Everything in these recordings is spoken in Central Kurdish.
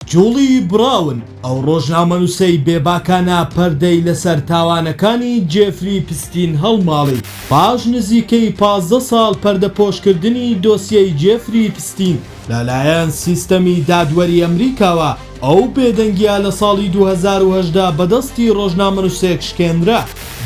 جوڵی براون ئەو ڕۆژنامەنووسەی بێباکانە پەردەی لەسەر تاوانەکانی جێفری پستین هەڵماڵی. پاش نزیکەی پازدە ساڵ پەردەپۆشکردنی دۆسیەی جێفری پستین لەلایەن سیستەمی دادوەری ئەمریکاوە، ئەو بێدەنگییە لە ساڵی دوو هەزار و هەژدە بەدەستی ڕۆژنامەنووسێک شکێنرا.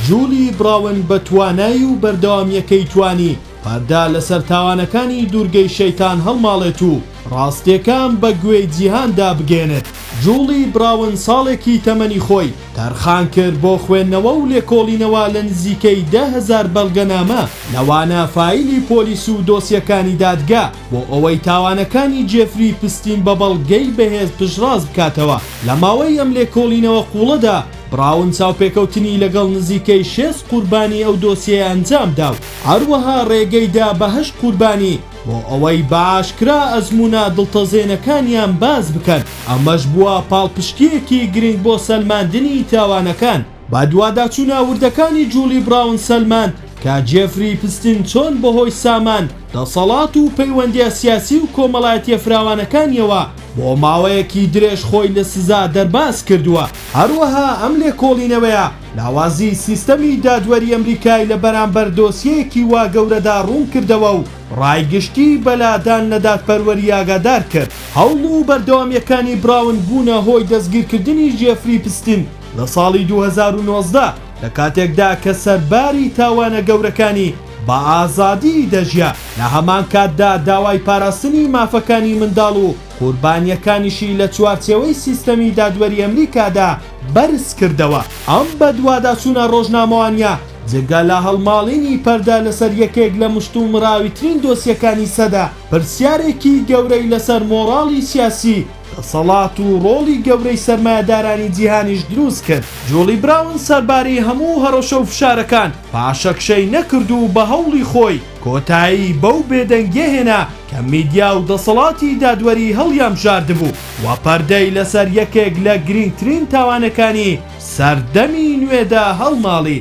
جولی براون بە توانایی و بەردەوامییەکەی توانی پەردە لەسەر تاوانەکانی دوورگەی شەیتان هەڵماڵێت و، ڕاستیەکان بە گوێی جیهان دا بگەیەنێت، جوڵی براون ساڵێکی تەمەنی خۆی تەرخان کرد بۆ خوێندنەوە و لێکۆڵینەوە لە نزیکەی دە هەزار بەڵگەنامە لەوانە فایلی پۆلیس و دۆسیەکانی دادگا بۆ ئەوەی تاوانەکانی جێفری پستین بە بەڵگەی بەهێز پشتڕاست بکاتەوە لە ماوەی ئەم لێکۆڵینەوە قوڵەدا براون چاوپێکەوتنی لەگەڵ نزیکەی شێست قوربانی ئەو دۆسیەیە ئەنجام دا و هەروەها ڕێگەی دا بە هەشت قوربانی بۆ ئەوەی بە ئاشکرا ئەزموونە دڵتەزێنەکانیان باس بکەن، ئەمەش بووە پاڵپشتییەکی گرنگ بۆ سەلماندنی تاوانەکان. بەدواداچوونە وردەکانی جوڵی بڕاون سەلماند کە جێفری ئیپستین چۆن بەهۆی سامان، دەسەڵات و پەیوەندییە سیاسی و کۆمەڵایەتییە فراوانەکانییەوە بۆ ماوەیەکی درێژ خۆی لە سزا دەرباز کردووە. هەروەها ئەم لێکۆڵینەوەیە لاوازی سیستەمی دادوەری ئەمریکای لە بەرامبەر دۆسیەیەکی وا گەورەدا ڕوون کردەوە و ڕای گشتی بە لادان لە دادپەروەری ئاگادار کرد. هەوڵ و بەردەوامییەکانی براون بوونە هۆی دەستگیرکردنی ژێفری پستین لە ساڵی دوو هەزار و نۆزدە، لە کاتێکدا کە سەرباری تاوانە گەورەکانی بە ئازادی دەژیا، لە هەمان کاتدا داوای پاراستنی مافەکانی منداڵ و قوربانییەکانیشی لە چوارچێوەی سیستەمی دادوەری ئەمریکادا بەرزکردەوە. ئەم بەدواداچوونە ڕۆژنامەوانییە جگە لە هەڵماڵینی پەردە لەسەر یەکێک لە مشتومڕاویترین دۆسیەکانی سەدە، پرسیارێکی گەورەی لەسەر مۆڕاڵی سیاسی، دەسەڵات و ڕۆڵی گەورەی سەرمایەدارانی جیهانیش دروستکرد. جوڵی براون سەرباری هەموو هەڕەشە و فشارەکان پاشەکشەی نەکرد و بە هەوڵی خۆی، کۆتایی بەو بێدەنگیە هێنا کە میدیا و دەسەڵاتی دادوەری هەڵیانبژاردبوو و پەردەی لەسەر یەکێک لە گرینگترین تاوانەکانی سەردەمی نوێدا هەڵماڵی.